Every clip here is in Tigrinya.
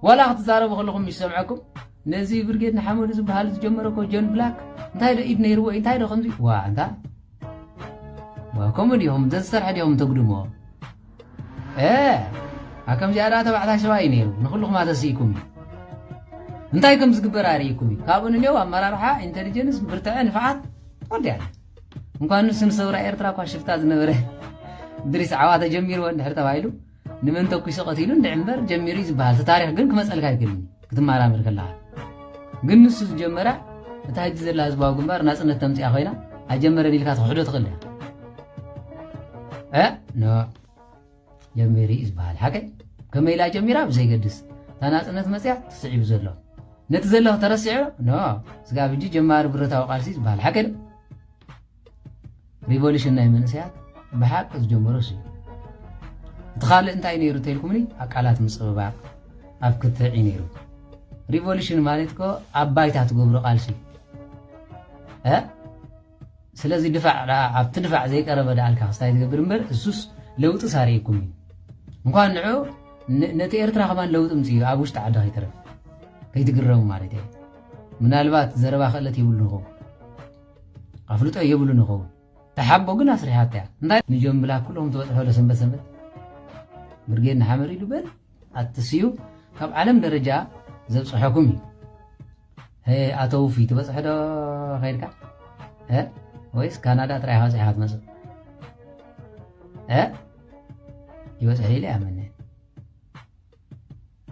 ዋላ ክትዛረቡ ከለኹም ይሰምዐኩም ነዚ ብርጌድ ንሓመዱ ዝበሃል ዝጀመረ እኮ ጆን ብላክ እንታይ ዶ ኢድ ነይርዎ እዩ እንታይ ዶ ከምዚ ዋ እንታ ከምኡ ድኹም ዘዝሰርሐ ድኹም ተጉድምዎ እ ከምዚኣ ደኣ ተባዕታይ ሰባ እዩ ነይሩ ንኩልኹም ኣተስኢኩም እዩ እንታይ ከም ዝግበር ኣርእይኩም እዩ ካብኡ ንኔው ኣመራርሓ ኢንቴሊጀንስ ብርትዐ ንፍዓት ወዲያ እንኳን ንሱ ንሰውራ ኤርትራ እኳ ሽፍታ ዝነበረ ድሪስ ዓዋ ተጀሚርዎ እንድሕር ተባሂሉ ንመን ተኲሱ ቀቲሉ እንድዒ እምበር ጀሚሩ እዩ ዝበሃል እቲ ታሪኽ ግን ክመፀልካ ኣይክእልን እዩ ክትመራመር ከለኻ ግን ንሱ ዝጀመራ እታ ሕጂ ዘላ ህዝባዊ ግንባር ናፅነት ተምፅያ ኮይና ኣይጀመረን ኢልካ ትኽሕዶ ትኽእል እያ እ ኖ ጀሚሩ እዩ ዝበሃል ሓቀይ ከመይ ኢላ ጀሚራ ብዘይገድስ እታ ናፅነት መፅያ ትስዒቡ ዘሎ ነቲ ዘለኹ ተረሲዑ ኖ ስጋብ ሕጂ ጀማሪ ብረታዊ ቃልሲ ዝበሃል ሓቂ ዶ ሪቮሉሽን ናይ መንእሰያት ብሓቂ ዝጀመሮስ እዩ እቲ ካልእ እንታይ ነይሩ ተልኩምኒ ኣብ ቃላት ምፅብባቕ ኣብ ክትዕ እዩ ነይሩ ሪቮሉሽን ማለት ኮ ኣብ ባይታ ትገብሮ ቃልሲ ስለዚ ድፋዕ ኣብቲ ድፋዕ ዘይቀረበ ደኣልካ ክስታይ ትገብር እምበር እሱስ ለውጢ ሳሪእኩም እዩ እንኳን ንዑ ነቲ ኤርትራ ከማን ለውጢ ምፅ እዩ ኣብ ውሽጢ ዓዲ ከይትረፍ ከይትግረሙ ማለት እየ ምናልባት ዘረባ ክእለት ይብሉ ንኹም ኣፍልጦ የብሉን ይኸውን ተሓቦ ግን ኣስሪሓታ እያ እንታይ ንጆን ብላክ ኩሎም ዝበፅሖ ዶ ሰንበት ሰንበት ብርጌድ ንሓመድ ኢሉ በል ኣትስዩ ካብ ዓለም ደረጃ ዘብፅሐኩም እዩ ኣቶ ውፊ ትበፅሐ ዶ ከይድካ ወይስ ካናዳ ጥራይ በፂሕካ ትመፅእ ይበፅሐ ኢለ ያመነ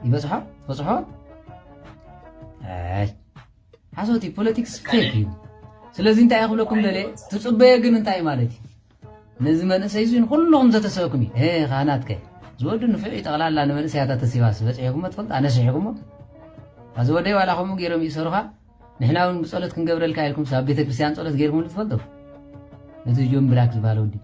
ይበዝሖ ትበዝሖ ኣይ ሓሶት እዩ ፖለቲክስ ፌክ እዩ ስለዚ እንታይ እየ ክብለኩም ደለ ትፅበየ ግን እንታይ ማለት እዩ ነዚ መንእሰይ እዚ ንኩልኹም ዘተሰበኩም እዩ ሄ ካህናት ከ ዝወዱ ንፍዕ እዩ ጠቕላላ ንመንእሰያት ኣተሲባስ በፂሕኩሞ ትፈልጡ ኣነስሒኩሞ ኣዚ ወደይ ዋላ ከምኡ ገይሮም እዩ ሰሩኻ ንሕና እውን ብፀሎት ክንገብረልካ ኢልኩም ኣብ ቤተክርስትያን ፀሎት ገይርኩም ትፈልጡ እቲ ጆን ብላክ ዝበሃል ወዲ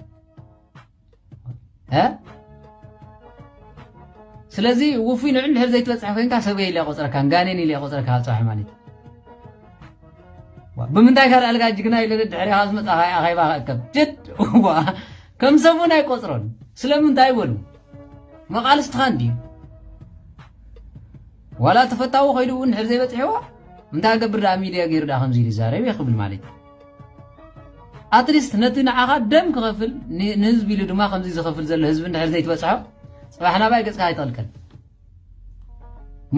ስለዚ ውፉይ ንዑ እንድሕር ዘይትበፅሐ ኮንካ ሰብ ኢለ ቆፅረካን ጋኔን ኢለ ቆፅረካ ኣብ ፀባሕ ማለት እዩ ብምንታይ ካልእ ኣልጋ ጅግና ኢለ ድሕሪኻ ዝመፅኣ ካይ ኣኼባ ክእከብ ጀድ ከም ሰብ እውን ኣይቆፅሮን ስለምንታይ በሉ መቓልስትኻ እንድዩ ዋላ ተፈታዊ ኮይዱ እውን ድሕር ዘይበፅሕዎ እንታይ ገብር ደኣ ሚድያ ገይሩ ደኣ ከምዚ ኢሉ ይዛረብ እየ ክብል ማለት እዩ ኣትሊስት ነቲ ንዓኻ ደም ክኸፍል ንህዝቢ ኢሉ ድማ ከምዚ ዝኸፍል ዘሎ ህዝቢ እንድሕር ዘይትበጽሖ ጽባሕ ናባይ ገጽካ ኣይጠልቅን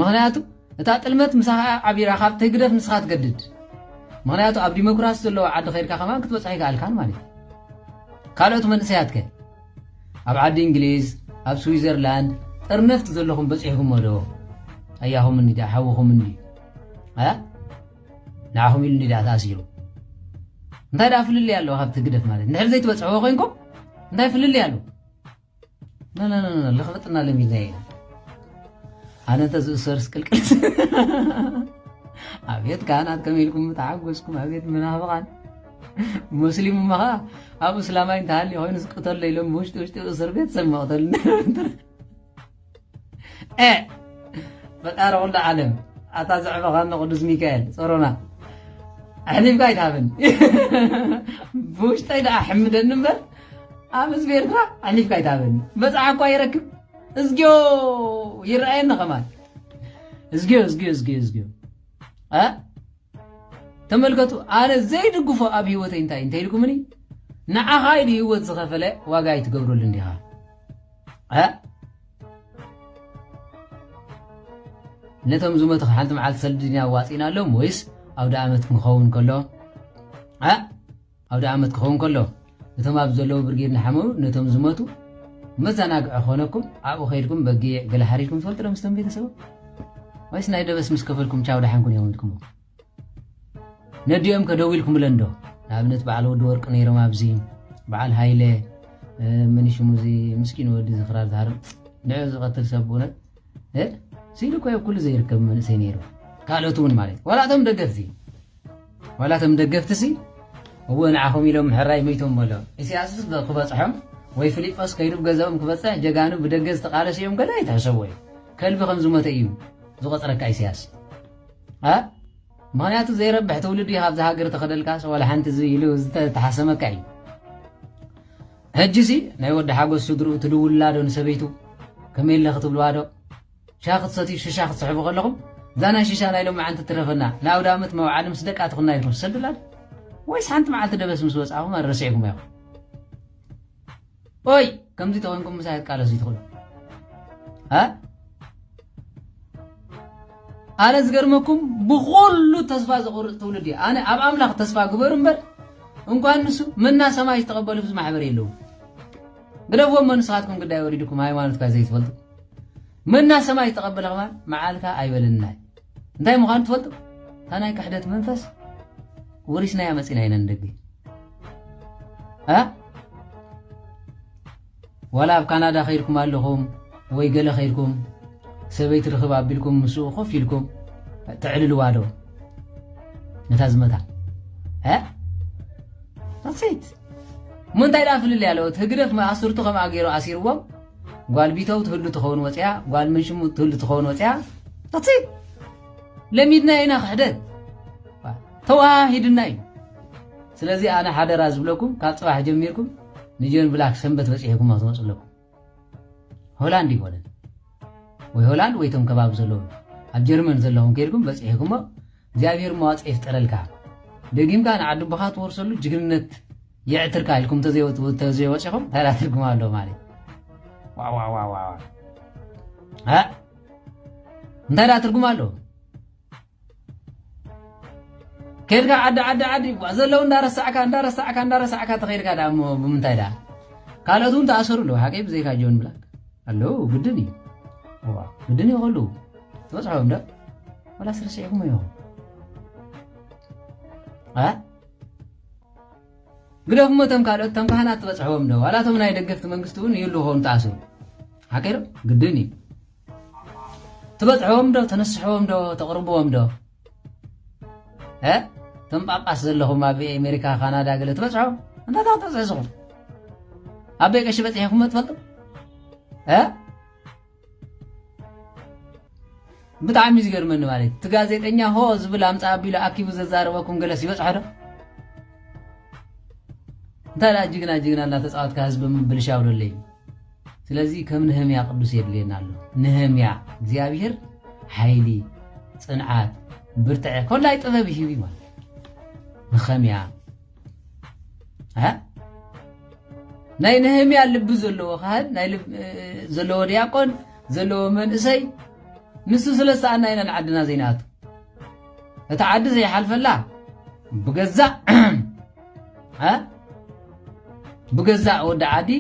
ምክንያቱ እታ ጥልመት ምሳኻ ዓቢራ ካብቲ ህግደፍ ንስኻ ትገድድ ምክንያቱ ኣብ ዲሞክራሲ ዘለዎ ዓዲ ከይድካ ከማን ክትበፅሖ ይከኣልካን ማለት እዩ ካልኦት መንእሰያት ከ ኣብ ዓዲ እንግሊዝ ኣብ ስዊዘርላንድ ጥርነፍቲ ዘለኹም በፂሕኩሞ ዶ ኣያኹም እንዲ ሓውኹም እንዲ ንዓኹም ኢሉ እንዲዳ ተኣሲሩ እንታይ ደኣ ፍልልይ ኣለዎ ካብቲ ግደፍ ማለት ንድሕሪ ዘይትበፅሕዎ ኮይንኩም እንታይ ፍልልይ ኣለዎ ልኽፍጥና ለሚድና ኢና ኣነ እንተዝእሰርስ ቅልቅል ኣቤት ካህናት ከመይ ኢልኩም ተዓጎስኩም ኣቤት መናፍቓን ሙስሊም እማ ከዓ ኣብ እስላማይ እንተሃልዩ ኮይኑ ዝቅተሎ ኢሎም ብውሽጢ ውሽጢ እስር ቤት ሰብ መቕተል ኤ ፈጣሪ ኩሉ ዓለም ኣታ ዘዕበኻኒ ቅዱስ ሚካኤል ጸሮና ኣሕሊፍካ ኣይትሃበኒ ብውሽጠይ ደኣ ሕምደኒ እምበር ኣብ ህዝቢ ኤርትራ ኣሕሊፍካ ኣይትሃበኒ መፅዓ እኳ ይረክብ እዝግዮ ይረኣየኒ ኸማን እዝግዮ እዝግዮ እዝግዮ እዝግዮ ተመልከቱ ኣነ ዘይድግፎ ኣብ ህይወተይ እንታይ እንተኢልኩምኒ ንዓኻ ኢሉ ህይወት ዝኸፈለ ዋጋ ኣይትገብረሉ እንዲኻ ነቶም ዝመቱ ሓንቲ መዓልቲ ሰልዲ ድና ኣዋፂእናሎም ወይስ ኣውደ ዓመት ክኸውን ከሎ ኣውደ ዓመት ክኸውን ከሎ እቶም ኣብ ዘለዉ ብርጌድ ንሓመሩ ነቶም ዝመቱ መዘናግዒ ኮነኩም ኣብኡ ከይድኩም በጊዕ ገለ ሓሪድኩም ትፈልጡ ዶ ምስቶም ቤተሰቦም ወይስ ናይ ደበስ ምስ ከፈልኩም ቻው ደሓንኩን እዮም ኢልኩሞ ነዲኦም ከ ደው ኢልኩምለን ዶ ንኣብነት በዓል ወዲ ወርቂ ነይሮም ኣብዚ በዓል ሃይለ መን ሽሙ እዚ ምስኪን ወዲ ዝኽራር ዝሃርም ንዕ ዝቐትል ሰብ ብእውነት ስኢሉ ኮ ኩሉ ዘይርከብ መንእሰይ ነይሩ ካልኦት እውን ማለት እዩ ዋላ እቶም ደገፍቲ ዋላ እቶም ደገፍቲ ሲ እወ ንዓኹም ኢሎም ምሕራይ መይቶም በሎ ኢሳያስስ ክበፅሖም ወይ ፊሊጶስ ከይዱ ገዛኦም ክበፅሕ ጀጋኑ ብደገ ዝተቃለሱ እዮም ገለ ኣይትሕሰቦ እዩ ከልቢ ከም ዝሞተ እዩ ዝቆፅረካ ኢሳያስ ምክንያቱ ዘይረብሕ ትውልዲ እዩ ካብዚ ሃገር ተኸደልካስ ዋላ ሓንቲ ኢሉ ዝተሓሰመካ እዩ ሕጂሲ ናይ ወዲ ሓጎስ ስድርኡ ትድውላ ዶ ንሰበይቱ ከመይ ኣለ ክትብልዋ ዶ ሻ ክትሰትዩ ሽሻ ክትስሕቡ ከለኹም እዛ ናይ ሽሻ ናይ ሎም መዓንቲ ትረፈና ንኣውደ ኣመት መውዓሊ ምስ ደቃ ትኹና ኢልኩም ትሰድላ ወይስ ሓንቲ መዓልቲ ደበስ ምስ ወፅኣኹም ኣረሲዕኩም ኢኹም ኦይ ከምዚ ተኮንኩም ምሳይ ኣቃለሱ ይትኽእሉ ኣነ ዝገርመኩም ብኩሉ ተስፋ ዘቁርፅ ትውልድ እዩ ኣነ ኣብ ኣምላኽ ተስፋ ግበሩ እምበር እንኳን ንሱ መና ሰማይ ዝተቐበሉ ህዝቢ ማሕበር የለዉ ግደፍዎም ንስኻትኩም ግዳይ ወሪድኩም ሃይማኖትካ ዘይትፈልጡ መና ሰማይ ዝተቐበለ ከማን መዓልካ ኣይበለናይ እንታይ ምዃኑ ትፈልጡ እታ ናይ ክሕደት መንፈስ ወሪስናያ መፂና ኢና ንደገ ዋላ ኣብ ካናዳ ከይድኩም ኣለኹም ወይ ገለ ከይድኩም ሰበይቲ ርኽብ ኣቢልኩም ምስኡ ኮፍ ኢልኩም ተዕልልዋ ዶ ነታ ዝመታ ሴት ምንታይ ደኣ ፍልልያ ኣለዎት ህግደፍ ኣስርቱ ከምኣ ገይሩ ኣሲርዎም ጓል ቢተው ትህሉ ትኸውን ወፅያ ጓል መንሽሙ ትህሉ ትኸውን ወፅያ ዳትሲ ለሚድና ኢና ክሕደት ተዋሂድና እዩ ስለዚ ኣነ ሓደራ ዝብለኩም ካብ ፅባሕ ጀሚርኩም ንጆን ብላክ ሰንበት በፂሕኩም ክትመፁ ኣለኩም ሆላንድ ይኮነን ወይ ሆላንድ ወይ ቶም ከባቢ ዘለዉ ኣብ ጀርመን ዘለኹም ከይድኩም በፂሕኩሞ እግዚኣብሔር መዋፅ ይፍጠረልካ ደጊምካ ንዓዲ ቦኻ ትወርሰሉ ጅግንነት የዕትርካ ኢልኩም ተዘይወፂኹም እንታይ ዳ ትርጉም ኣለዎ ማለት እንታይ ዳ ትርጉም ኣለዎ ከድካ ዓዲ ዓዲ ዓዲ ዘለዉ እንዳረሳዕካ እንዳረሳዕካ እንዳረሳዕካ ተኸድካ ዳ እሞ ብምንታይ ዳ ካልኦት እውን ተኣሰሩ ኣለዉ ሓቂ ብዘይካ ጆን ብላክ ኣለዉ ግድን እዩ ግድን እዩ ከሉ ትበፅሖም ዶ ወላ ስርሲዕኩም እዮም ግደፍ እሞ እቶም ካልኦት እቶም ካህናት ትበፅሕዎም ዶ ዋላ እቶም ናይ ደገፍቲ መንግስቲ እውን ይህሉ ክኾኑ ተኣስሩ ሓቂዶ ግድን እዩ ትበፅሕዎም ዶ ተነስሕዎም ዶ ተቕርብዎም ዶ እቶም ጳጳስ ዘለኹም ኣብ ኣሜሪካ ካናዳ ገለ ትበፅሖም እንታይ ታ ክትበፅሑ ስኹም ኣበይ ቀሺ በፂሕኹም ትፈልጡ ብጣዕሚ እዩ ዝገርመኒ ማለት እቲ ጋዜጠኛ ሆ ዝብል ኣምፃ ኣቢሉ ኣኪቡ ዘዛረበኩም ገለስ ይበፅሖ ዶ እንታይ ደኣ ጅግና ጅግና እናተፃወትካ ህዝቢ ምብልሻው ደለዩ ስለዚ ከም ንህምያ ቅዱስ የድልየና ኣሎ ንህምያ እግዚኣብሔር ሓይሊ ፅንዓት ብርትዐ ኮላይ ጥበብ ይህብ ማለት ንኸምያ ናይ ነህምያ ልቢ ዘለዎ ካህን ናይ ዘለዎ ዲያቆን ዘለዎ መንእሰይ ንሱ ስለ ዝተኣና ኢና ንዓድና ዘይንኣቱ እቲ ዓዲ ዘይሓልፈላ ብገዛእ ብገዛእ ወዲ ዓዲ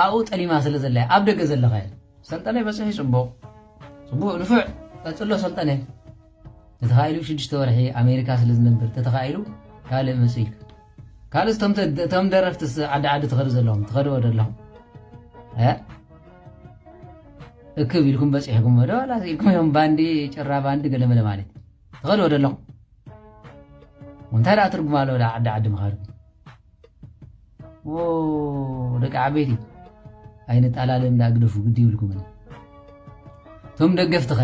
ኣብኡ ጠሊማ ስለ ዘለ ኣብ ደገ ዘለኸ ሰልጠነ በፅሒ ፅቡቕ ፅቡቕ ንፉዕ ቀፅሎ ሰልጠነ ተተኻኢሉ ሽዱሽተ ወርሒ ኣሜሪካ ስለ ዝነብር ተተኻኢሉ ካልእ መጽኡ ኢልካ ካልእ እቶም ደረፍትስ ዓዲ ዓዲ ትኸዱ ዘለኹም ትኸድኦ ዘለኹም እክብ ኢልኩም በፂሕኩም ዶ ዋላ ኢልኩም እዮም ባንዲ ጭራ ባንዲ ገለመለ ማለት ትኸድኦ ዘለኹም እንታይ ደኣ ትርጉም ኣለዎ ዓዲ ዓዲ ምኻድኩም ደቂ ዓበይቲ ኣይንጣላለ እንዳ ግደፉ ግዲ ይብልኩምን እቶም ደገፍትኸ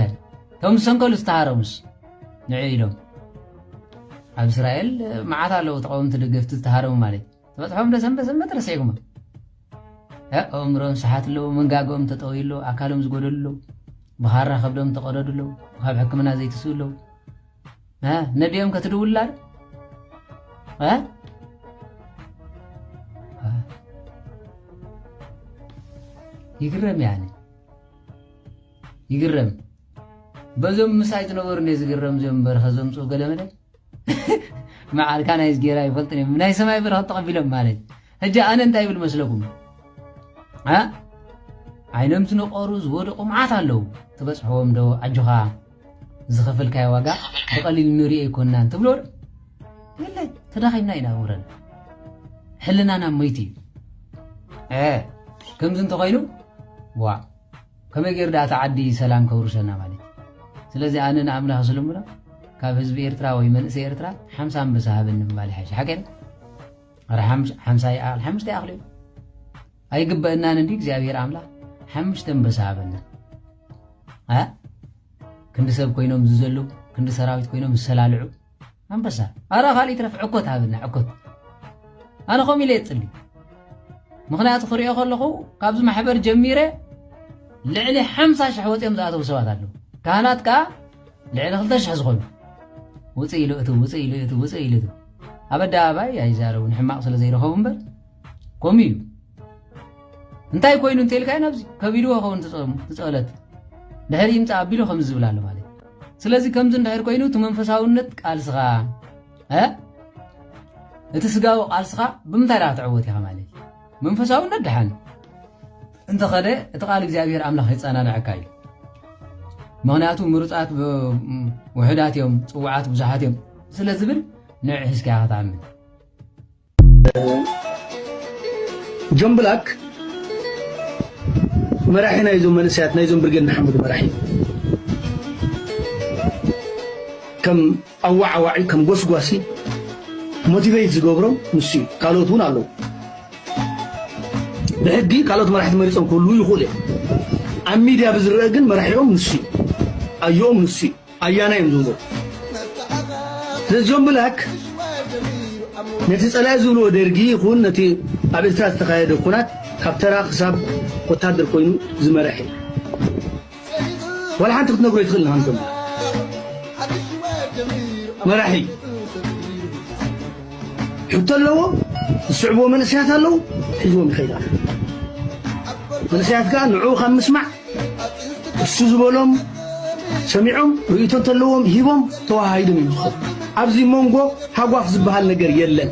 እቶም ዝሰንከሉ ዝተሃረሙስ ንዕ ኢሎም ኣብ እስራኤል መዓት ኣለዉ ተቃወምቲ ደገፍቲ ዝተሃረሙ ማለት ተበፅሖም ዶ ሰንበት ሰንበት ረሲዕኩሞ ኣእምሮም ሰሓት ኣለዉ መንጋገኦም ተጠውዩ ኣለዉ ኣካሎም ዝጎደሉ ኣለዉ ብኻራ ከብዶም ተቐደዱ ኣለዉ ካብ ሕክምና ዘይትስኡ ኣለዉ ነዲኦም ከትድውላር ይግረም ያነ ይግረም በዞም ምሳይ ዝነበሩ ነ ዝግረም ዞም በረኸ ዘምፅኡ ገለመለ መዓልካ ናይ ዝጌራ ይፈልጥ ናይ ሰማይ በረኸ ተቐቢሎም ማለት ሕጂ ኣነ እንታይ ይብል መስለኩም እ ዓይኖም ዝነቆሩ ዝወደቁ መዓት ኣለዉ ትበጽሕዎም ዶ ኣጆኻ ዝኸፈልካዮ ዋጋ ብቐሊል ንሪኦ ኣይኮናን ትብሎ ዶ የለ ተዳኺምና ኢና ውረን ሕልናና ሞይት እዩ እ ከምዚ እንተኾይኑ ዋ ከመይ ገይሩ ዳኣ እቲ ዓዲ ሰላም ከውርሰና ማለት ስለዚ ኣነ ንኣምላኽ ዝልምኖ ካብ ህዝቢ ኤርትራ ወይ መንእሰይ ኤርትራ ሓምሳ ኣንበሳ ሃበኒ ምባል ይሓይሽ ሓቂ ኣረ ሓምሳ ይኣኽል ሓምሽተ ይኣኽል እዩ ኣይግበእናን እንዲ እግዚኣብሔር ኣምላኽ ሓምሽተ ኣንበሳ ሃበና ክንዲ ሰብ ኮይኖም ዝዘሉ ክንዲ ሰራዊት ኮይኖም ዝሰላልዑ ኣንበሳ ኣረ ካልእ ይትረፍ ዕኮት ሃበና ዕኮት ኣነ ከምኡ ኢለ የፅሊ ምክንያቱ ክሪኦ ከለኹ ካብዚ ማሕበር ጀሚረ ልዕሊ ሓምሳ ሽሕ ወፂኦም ዝኣተው ሰባት ኣለዉ ካህናት ከዓ ልዕሊ ክልተ ሽሕ ዝኾኑ ውፅእ ኢሉ እቱ ውፅእ ኢሉ እቱ ውፅእ ኢሉ እቱ ኣብ ኣደባባይ ኣይዛረቡ ንሕማቕ ስለ ዘይረኸቡ እምበር ከምኡ እዩ እንታይ ኮይኑ እንተልካዮ ናብዚ ከቢድዎ ከውን ትፀለት ድሕሪ ይምፃ ኣቢሉ ከምዚ ዝብል ኣሎ ማለት ስለዚ ከምዚ እንድሕር ኮይኑ እቲ መንፈሳውነት ቃልስኻ እቲ ስጋዊ ቃልስኻ ብምንታይ ዳ ክትዕወት ኢኻ ማለት እዩ መንፈሳውነት ደሓን እንተኸደ እቲ ቃል እግዚኣብሔር ኣምላኽ የጸናንዐካ እዩ ምክንያቱ ምሩፃት ውሕዳት እዮም ፅዋዓት ብዙሓት እዮም ስለ ዝብል ንዕ ሒዝካ ኢኻ ትኣምን ጆን ብላክ መራሒ ናይዞም መንእሰያት ናይዞም ብርጌድ ንሓመዱ መራሒ ከም ኣወዓዋዒ ከም ጎስጓሲ ሞቲቨይት ዝገብሮም ንሱ እዩ ካልኦት እውን ኣለዉ ብሕጊ ካልኦት መራሕቲ መሪፆም ክህልዉ ይኽእሉ እዮም ኣብ ሚድያ ብዝረአ ግን መራሒኦም ንሱ እዩ ኣዮኦም ንሱ እዩ ኣያና እዮም ዝብሉ ስለዚ ጆን ብላክ ነቲ ፀላኢ ዝብልዎ ደርጊ ይኹን ነቲ ኣብ ኤርትራ ዝተኻየደ ኩናት ካብ ተራ ክሳብ ወታደር ኮይኑ ዝመረሐ እዩ ዋላ ሓንቲ ክትነግሮ ኣይትኽእልን ኢኻ ንሰምዓ መራሒ ሕቶ ኣለዎ ዝስዕብዎ መንእሰያት ኣለዉ ሒዝዎም ይኸይድ ኣሎ መንእሰያት ከዓ ንዕኡ ካብ ምስማዕ እሱ ዝበሎም ሰሚዖም ርእቶ እንተለዎም ሂቦም ተዋሃሂዶም እዮም ዝኾኑ ኣብዚ መንጎ ሃጓፍ ዝበሃል ነገር የለን